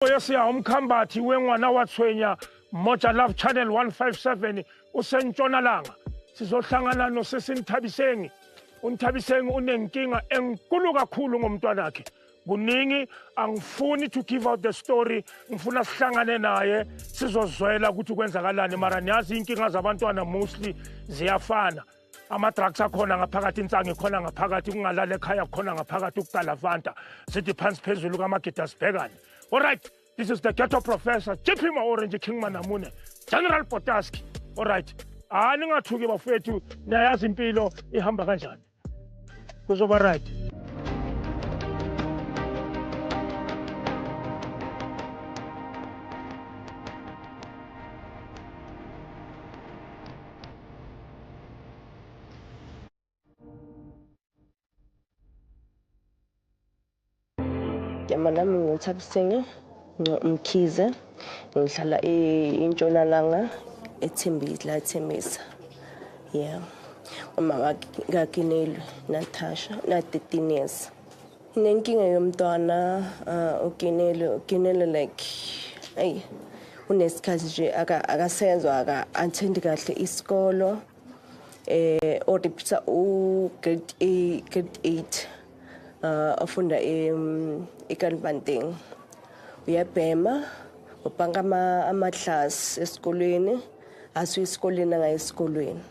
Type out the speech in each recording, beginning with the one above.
Yesiya umkhambathi wengwana wathwenya Moja Love Channel 157 usentshonalanga sizohlangana nosisi Nthabisengi uNthabisengi unenkinga enkulu kakhulu ngomntwana wakhe kuningi angifuni to give out the story ngifuna sihlangane naye sizozwela ukuthi kwenzakalani mara niyazi inkinga zabantwana mostly ziyafana ama-drugs akhona ngaphakathi insangi ikhona ngaphakathi kungalala ekhaya kukhona ngaphakathi ukugalavanta sithi phansi phezulu kamagida sibhekane olright this is the ghetto professor jp ma-orange king manamune general botaski olright hayi ningathuki bafowethu niyayazi impilo ihamba kanjani kuzoba right igama lami nguthabisenge mkhize ngihlala intshonalanga ethembile la ethembisa yeah uma kakinelwe natasha na-13 years Nginenkinga yomntwana uh, uginelo uginelo like ayi unesikhathi nje akasenzwa aka attend kahle isikolo eh o repeater u grade A grade 8 uh afunda em ekanbanteng uyabhema ubhanka ama ama class esikolweni asu isikoleni angayisikolweni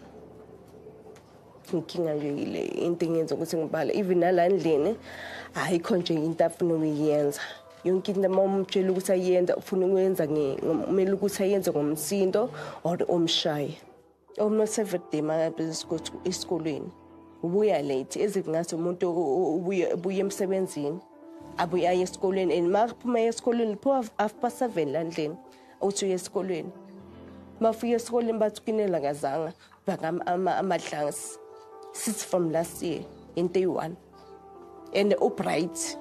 inkinga nje yile into engenza ukuthi ngibale even nala ndlini ayikho nje into afuna ukuyenza yonke into uma umtshela ukuthi ayenza ufuna ukuyenza kumele ukuthi ayenze ngomsindo or omshaye omusevenday makabizisikuthi esikolweni ubuya late ezikungathi umuntu ubuye emsebenzini abuye aye esikolweni and makaphuma esikolweni liphuma half past seven landlini uthi uye esikolweni bafika esikoleni bathi kunelakazanga Bagam ama amadlangs since from last year in day one and ubright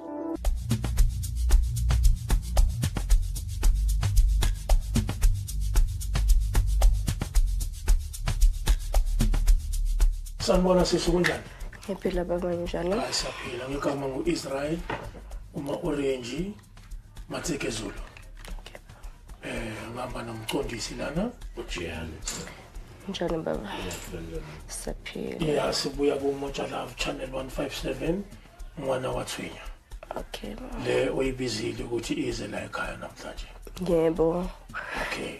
sanibona sisi kunjani ngiphila baba njalo asaphila ngigama ngu-israel uma-orenji Matseke Zulu. Okay. Eh ngihamba nomqondisi lana uJehane. Njani baba? Siyaphila. Yeah, sibuya ku Moja Love Channel 157 mwana wathwinya. Okay. Le oyibizile ukuthi ize la ekhaya namhlanje. Yebo. Okay.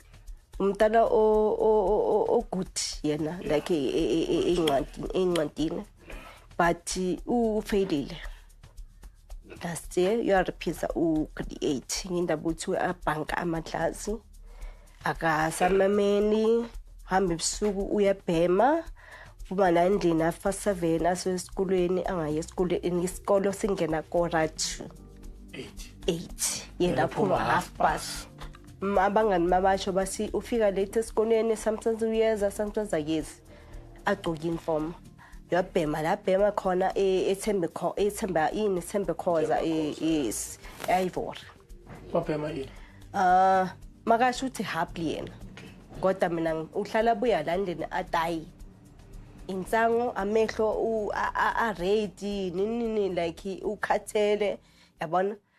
umntana ogood yena like incwadi incwadini but ufailile last year uyariphisa ugrade eight ngindaba ukuthi abhanka amadlazi akasamameni hamba ebusuku uyabhema phuma la endlini afa seven asesikolweni angayi esikolweni isikolo singena korat eight yena phuma half past M- abangani babasho basi ufika late esikoleni sometimes uyeza sometimes akezi agcoke uniform uyabhema la bhema khona e- ethembe kho- ethemba ini ethembe khoza e- yes ayivori wabhema yini Ah, makasho ukuthi happy yena. Kodwa mina ngi- uhlala buya la ndini atayi. Insango amehlo u a- a a ready nini nini like ukhathele yabona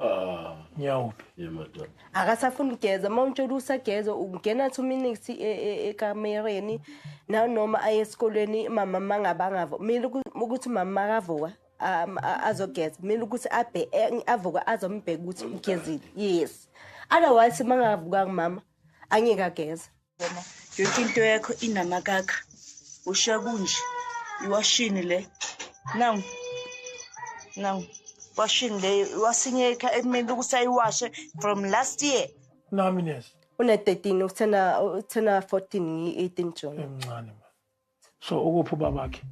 Ah, ngiyawuphi? Yemadoda. akasafuni ukugeza uma umtshela usageza ungena two minutes e- e- ekamereni nanoma aye esikolweni mama mangabangavo kumele uku- ukuthi mama makavuka um, a- azogeza kumele ukuthi abhe- e- avuke azombheka ukuthi ugezile yes otherwise mangavukanga mama angeke ageza wena yonke into yakho inamakakha ushiya kunje iwashini le naw naw washini le wasinyeka ekumele ukuthi ayiwashe from last year nami nesi une-13 uthena uthena 14 ngiyi-18 june emncane ma so ukuphi ubabakhe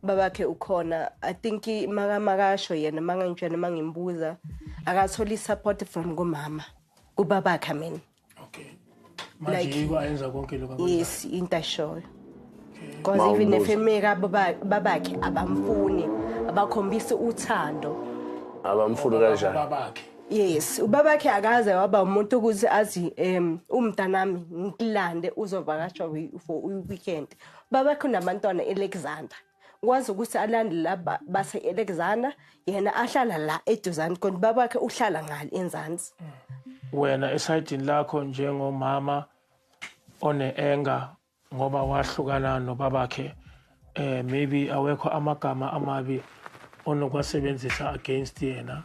babakhe ukhona i think makamakasho yena mangangitshena mangimbuza akatholi support from kumama kubabakhe mina okay manje like, yiba yenza konke lokho yes into ashoyo because okay. even if emeka babakhe abamfuni abakhombisi uthando abamfuni kanjani babakhe Yes, ubabakhe akaze waba umuntu ukuthi azi em umntanami ngilande uzovakashwa for weekend. Babakhe unabantwana eAlexander. Wazi ukuthi alande la base Alexander yena ahlala la eduzani kodwa babakhe uhlala ngale enzansi. Wena esayidini lakho njengomama one anger ngoba wahlukana nobabakhe eh maybe awekho amagama amabi onokwasebenzisa against yena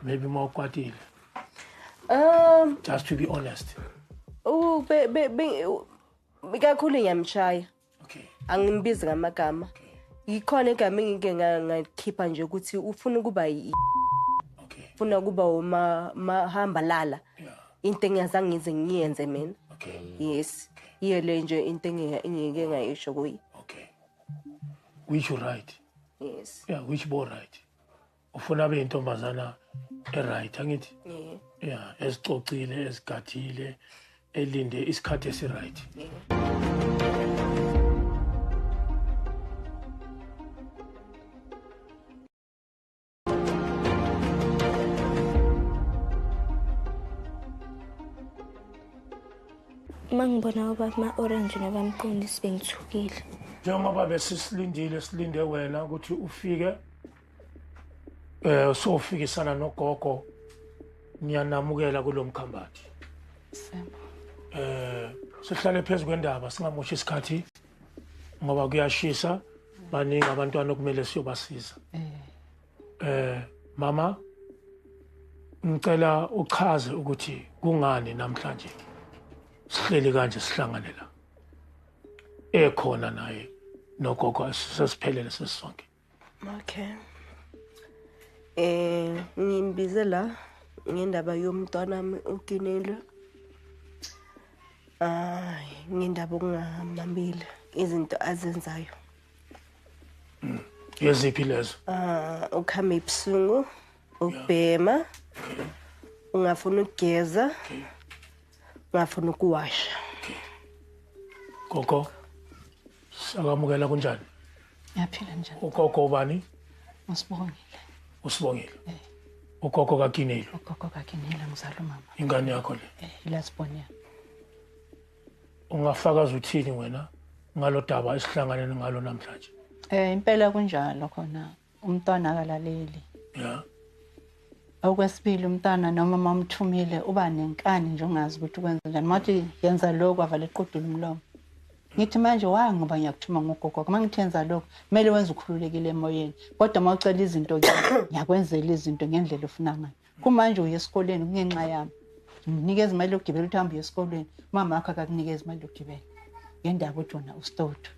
maybe uma ukwatile um just to be honest u be be be kakhulu ngiyamshaya okay angimbizi ngamagama yikhona igama engike ngakhipha nje ukuthi ufuna ukuba yi okay ufuna ukuba uma mahamba lala yeah into engiyazange ngize ngiyenze mina okay yes yiyo le nje into engiyeke ngayisho kuye okay which you right yes yeah which bo right ufuna abe intombazana eright angithi yeah yeah esicocile esigathile elinde isikhathi esiright uma ngibona ubaba ma-orange nabamqondisi bengithukile njengoba besisilindile silinde wena ukuthi ufike eh sofikisana nogogo ngiyanamukela kulomkhambathi eh sihlale phezulu kwendaba singamoshi isikhathi ngoba kuyashisa baningi abantwana okumele siyobasiza eh, eh mama ngicela uchaze ukuthi kungani namhlanje sihleli kanje sihlangane la ekhona naye nogogo sesiphelele sesisonke okay eh ngimbize la ngendaba yomntwana wami ukinile ay ngendaba okungamamile izinto azenzayo yeziphi lezo ah ukhamba ibusungu ubhema ungafuna ukugeza ungafuna ukuwasha gogo Sakamukela kunjani? Ngiyaphila njani? Ugogo ubani? Usibongile. Usibongile. Eh. Ugogo kaGinile. Ugogo kaGinile ngizala umama. Ingane yakho le. Eh, ilasibonela. Ungafakaza uthini wena ngalodaba esihlangane ngalo namhlanje? Eh impela kunjalo khona. umntwana akalaleli yeah okwesibili umntana noma mamthumile uba nenkani nje ungazi ukuthi ukwenza njani mathi yenza lokhu avala equdula umlomo ngithi manje wa ngoba ngiyakuthuma ngogogo uma ngithi yenza lokhu kumele wenze ukhululekile emoyeni kodwa uma ucela izinto ke ngiyakwenzela izinto ngendlela ofuna ngayo kumanje uye esikoleni kungenxa yami nginikeza imali yokugibela ukuthi hambe uye esikolweni umama wakho akakunikeza imali yokugibela ngendaba ukuthi wona usitotho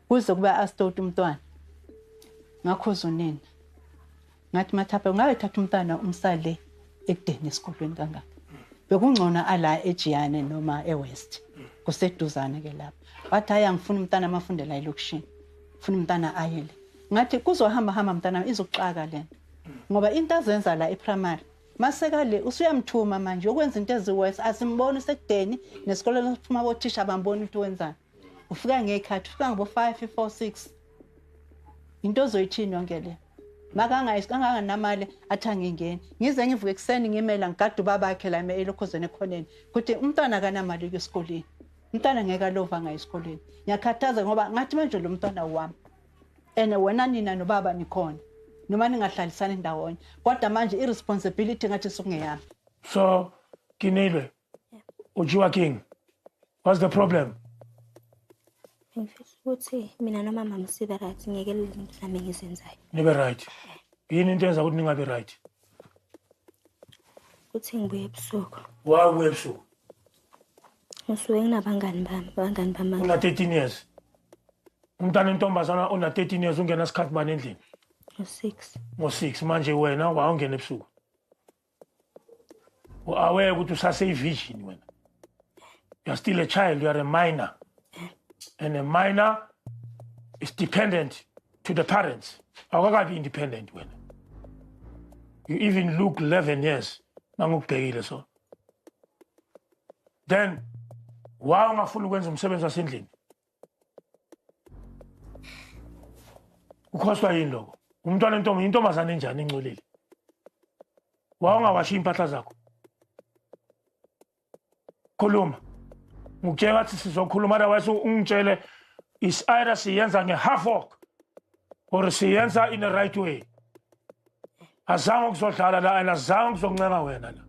kuze kube astoti umntwana ngakhuza unina ngathi mathapha ngabe thatha umntwana umsale ekudeni esikolweni kangaka bekungcono ala ejiyane noma ewest kuseduzane ke lapho wathi hayi angifuni umntana amafundela elokishini funa umntana aye le ngathi kuzohamba hamba mntana izoxaka lento ngoba into azenza la eprimary maseka le usuyamthuma manje ukwenza into eziworse asimboni sekudeni nesikoleni siphuma kothisha bamboni ukuthi wenzani ufika ngekhathi ufika ngobo 5 4 6 into ozoyithini yonke le makanganamali athi angingeni ngize ngivuke ekuseni ngimela ngigade ubabakhe la elokhozeni ekhoneni ukuthi umntwana akanamali uke esikoleni umntwana ngeke alova ngayo esikoleni ngiyakhathaza ngoba ngathi manje lo mntwana wami and wena nina nobaba nikhona noma ningahlalisani ndawonye kodwa manje i-responsibility ngathi sukungeyami so kinile Ujiwa King. What's the problem? Ngifisa ukuthi mina nomama msibe right ngeke lezinto zami ngizenzayo. Nibe right. Yini into enza ukuthi ningabe right? Kuthi ngibuye ebusuku. Why ubuye ebusuku? Ngisuke nginabangani bami, abangani bami. Una 13 years. Umntana intombazana ona 13 years ungena sikhathi bani endlini? Ngo 6. Ngo 6 manje wena wawungena ebusuku. u-aware ukuthi usaseyivision wena you're still a child you're a minor and a minor is dependent to the parents awukakabi independent wena you even look 11 years nangikubhekile so then why ungafuni ukwenza umsebenzi wasendlini ukhoswa yini loko umntwana entombi intombazane enjani encolile wawungawashiya impahla zakho khuluma ngikutshela ngathi sizokhuluma otherwise ungitshele is-ira siyenza nge-half work or siyenza in the right way azange ukuzodlala la and azange ukuzoncenga wena la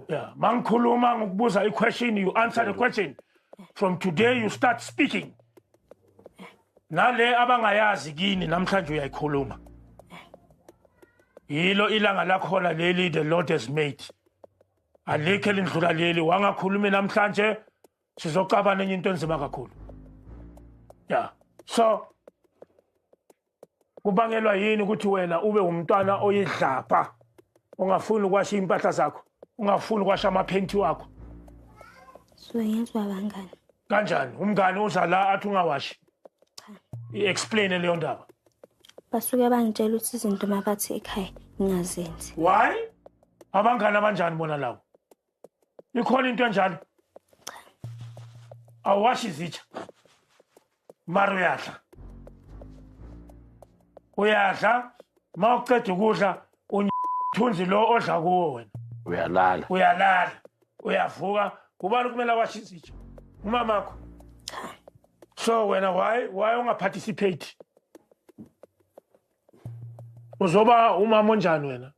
yeah mangikhuluma ngikubuza i-question you answer the question from today you start speaking nale abangayazi kini namhlanje uyayikhuluma yilo ilanga lakhona leli the lord has made alikho elindlula leli wangakhulumi namhlanje sizocabana enye into enzima kakhulu ya so kubangelwa yini ukuthi wena ube umntwana oyidlapha ungafuni ukwasha impahla zakho ungafuni ukwasha amaphenti wakho suyezwa bangani kanjani umngani uza la athi ungawashi i-explain leyo ndaba basuke bangitshela ukuthi izinto mabathi ekhaya ngingazenzi why abangani abanjani bona lawo ikhona into enjalo awashi izitsha mara uyadla uyadla ma uceda ukudla uthunzi lo odla kuwo wena uyalala uyalala uyavuka kubani kumele awashe izitsha umamakho so wena why why ungaparticipate uzoba umama onjani wena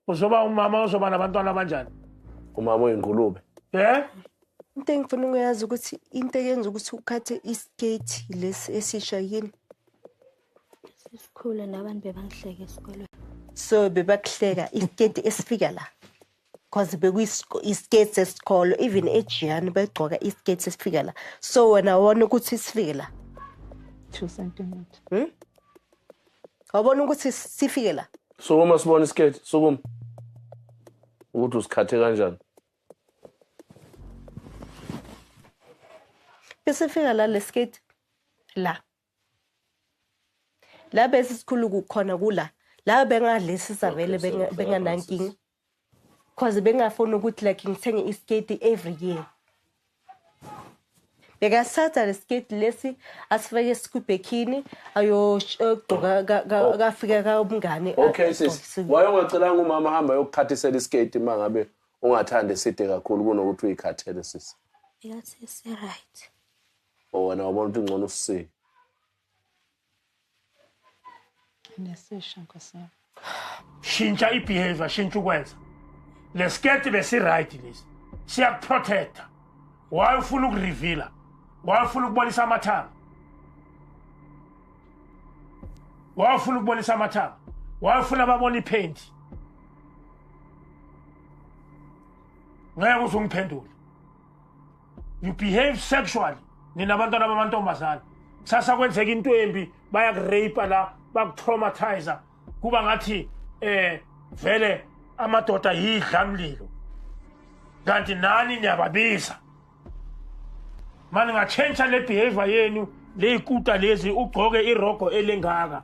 uzoba umama ozoba nabantwana abanjani umama oyingulube eh into engifuna ukuyazi ukuthi into eyenza ukuthi ukhathe iskate lesi esisha yini sesikhule nabantu bebangihleke esikolweni so bebakuhleka iskate esifika la because bekuyiskate sesikolo even ejiyani begcoka iskate esifika la so wena wona ukuthi sifike la two centimeter hmm? wabona ukuthi sifike la sukuma sibone isiketi sukuma ukuthi usikhathe kanjani besifika la lesiketi la la bese sikhulu kukhona kula la bengadlisisa vele benganankinga Cause bengafuni ukuthi like ngithenge isketi every year. Bekasatha lesketi lesi asifake esikubhekini ayogqoka kafika kaumngane. Okay sis. Wayongacelanga umama hamba yokuthathisela isketi mangabe ungathanda eside kakhulu kunokuthi uyikhathele sisi. Yes, yes, right. Oh, wena wabona ukuthi ngcono usisile. Nesisha nkosi yami. Shintsha ibehavior, shintsha ukwenza. Lesketi besiright lesi. Siyakuprotecta. Why ufuna ukureveala? Why ufuna ukubonisa amathanga? Why ufuna ukubonisa amathanga? Why ufuna babone iphenti? ngeke uzungiphendule you behave sexually nina abantwana bamantombazane kusasa kwenzeka into embi bayakurape la bakutraumatizer kuba ngathi eh vele amadoda yidla mlilo kanti nani niyababiza mani ngatshentsha le behavior yenu leyikuta lezi ugcoke irogo elengaka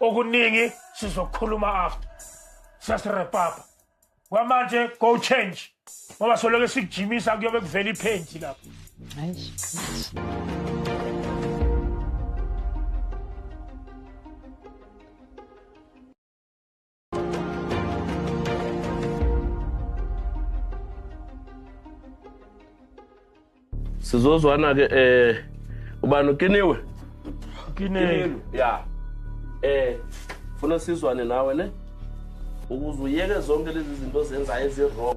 okuningi sizokhuluma after siyasirepapa kwamanje go change ngoba soloke sikujimisa kuyobe kuvela iphenti lapho sizozwana ke eh ubani ukiniwe ukiniwe ya eh funa sizwane nawe ne ukuze uyeke zonke lezi zinto zenzayo ezi-wrong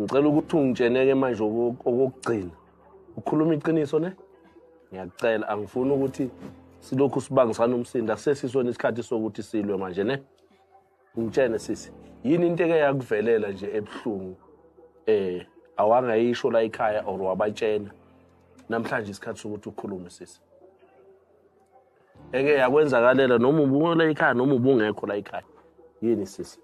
ngicela ukuthi ungitsheneke manje okokugcina ukhuluma iqiniso ne ngiyakucela angifuni ukuthi silokhu sibangisana umsindo akusesisona isikhathi sokuthi silwe manje ne ngitshene sisi yini into eke yakuvelela nje ebuhlungu eh awangayisho la ekhaya or wabatshena namhlanje isikhathi sokuthi ukhulume sisi eke yakwenzakalela noma ubungola ekhaya noma ubungekho la ekhaya yini sisi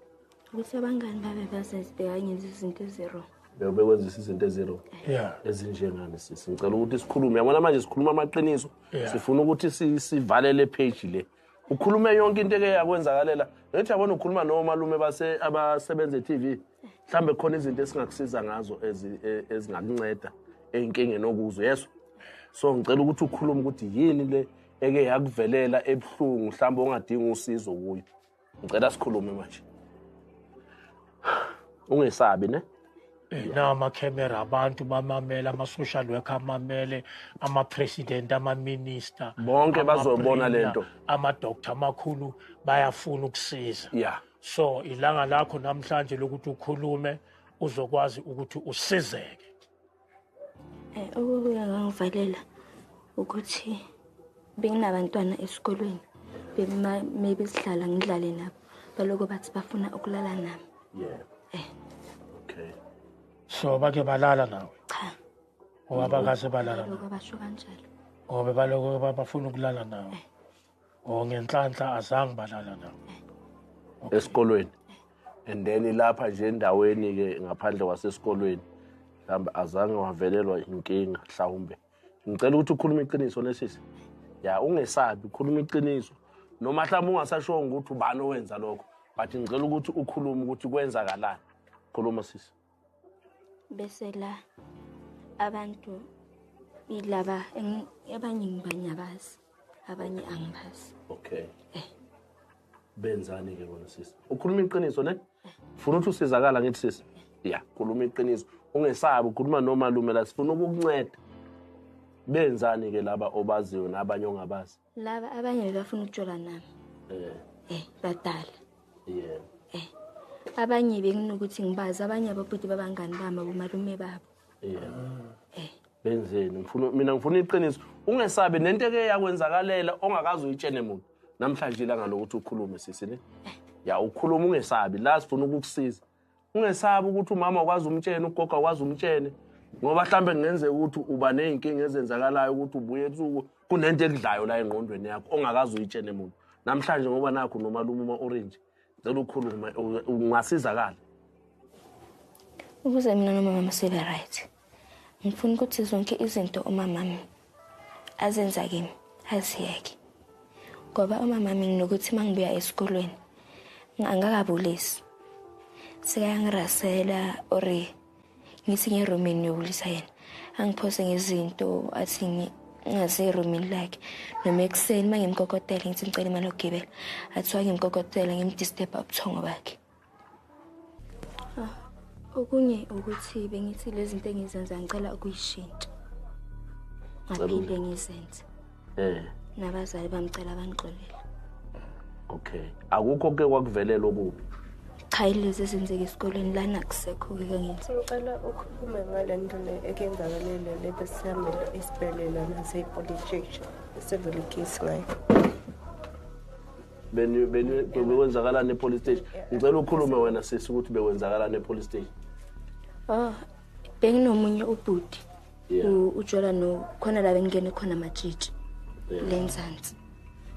Ukuthi abangani babe bazezibheka ngenza izinto eziro. Leo bekwenzisa izinto eziro. Yeah. Ezinjengani sisi. Ngicela ukuthi sikhulume. Yabona manje sikhuluma amaqiniso. Sifuna ukuthi sivalele page le. Ukhulume yonke into eke yakwenzakalela. Ngithi yabona ukhuluma nomalume base abasebenza e-TV. Mhlambe khona izinto esingakusiza ngazo e, ezingakunceda enkingeni okuzo. Yeso. So ngicela ukuthi ukhulume ukuthi yini le eke yakuvelela ebuhlungu mhlawumbe ongadinga usizo kuyo ngicela sikhulume manje ungesabi ne namakhemera abantu bamamele ama-social work amamele ama-president ama-minister bonke bazobona le nto ama-doctor amakhulu bayafuna ukusiza yeah. so ilanga lakho namhlanje lokuthi ukhulume uzokwazi ukuthi usizeke Eh, okubuye ngangivalela ukuthi benginabantwana esikolweni maybe sihlala ngidlale nabo baloko bathi bafuna ukulala nami yeah. eh. okay. so bake balala nawe cha ngoba bakaze balala basho kanjalo ngoba baloko bafuna ukulala nawe eh. o oh, ngenhlanhla azange balala nabo okay. esikolweni and then lapha nje endaweni ke ngaphandle kwasesikolweni mhlawumbe azange wavelelwa inkinga mhlawumbe ngicela ukuthi ukhulume iqiniso nesisi ya ungesabi ukhuluma iqiniso noma mhlawumbe ungasashongo ukuthi ubani owenza lokho but ngicela ukuthi ukhulume ukuthi kwenzakalani khuluma sisi bese la abantu ilaba abanye ngibanyabazi abanye angibazi okay eh benzani ke bona sisi ukhuluma iqiniso ne funa ukuthi usizakala ngithi sisi ya khuluma iqiniso ungesabi ukhuluma nomalume la sifuna ukukunceda benzani ke laba obaziyo nabanye ongabazi laba abanye bebafuna ukujola nami eh eh badala yeah eh abanye benginokuthi ngibazi abanye ababhuti babangani bami abomalume babo yeah eh benzeni ngifuna mina ngifuna iqiniso ungesabi nento eke yakwenzakalela ongakazi uyitshene muntu namhlanje ilanga lokuthi ukhulume sisi ne eh. ya ukhuluma ungesabi la sifuna ukukusiza ungesabi ukuthi umama ukwazi umtshene ugoga ukwazi umtshene ngoba mhlawumbe kungenzeka ukuthi uba ney'nkinga ezenzakalayo ukuthi ubuye ebusuku kunento ekudlayo la engqondweni yakho ongakazi uyitshene muntu namhlanje ngoba nakho nomalume uma-orange cela ukhulume ungasizakala ukuze mina nomama sibe right Ngifuna ukuthi zonke izinto umamami azenza kimi aziyeke. Ngoba umamami nginokuthi uma ngibuya esikolweni angakabulisi. Sekayangirasela or ngithi ngerumini ngiyobulisa yena. Angiphose ngezinto athi ngaze erumini lakhe noma ekuseni uma ngimkokotela ngithi ngicela imali yokugibela athiwa ngimkokotela ngimdisturba ubuthongo bakhe Ah, okunye ukuthi bengithi lezi zinto engizenza ngicela ukuyishintsha ngaphinde ngizenze eh nabazali bamcela bangixolele okay akukho ke kwakuvelela okubi cha ilezi ezenzeka esikoleni lana kusekho ke kangenzi ngicela ukhulume ngale nto le ekenzakalele le besihambela esibhedlela nasepolice station sevele case ngayo bekwenzakalani epolice station ngicela ukhulume wena sisi ukuthi bekwenzakalani epolice station oh benginomunye ubhuti ujola no khona la bengingene khona matshitshi lenzansi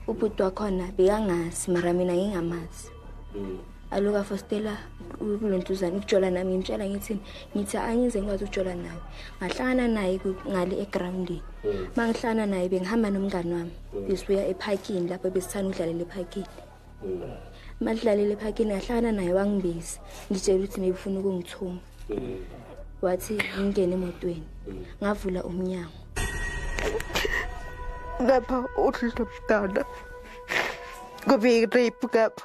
ubhuti wakhona bekangazi mara mina ngingamazi mm. alo kafostela kulentuzane ukujola nami ngimtshela ngithini ngithi angize ngikwazi ukujola nawe ngahlangana naye ngale egroundini hmm. uma ngihlangana naye bengihamba nomngani wami hmm. besibuya ephakini lapho besithanda udlalela ephakini hmm. uma lidlalela ephakini ngahlangana naye wangibizi ngitshela ukuthi nebufuna ukungithuma wathi ngingene emotweni ngavula umnyango ngapha uhlulomntana kube irape ngapha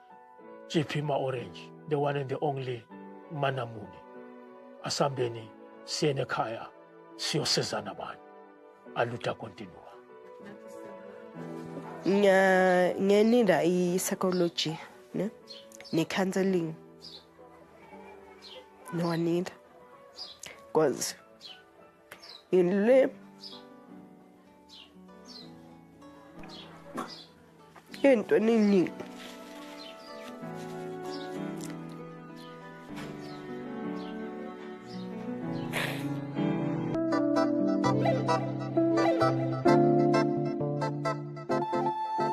Chiphima Orange, the one and the only Manamuni. Asambeni siyene khaya siyosizana bani. Aluta continua. Nga ngenida i psychology, ne? Ne counseling. No need. Cause Ngilule. Into nini?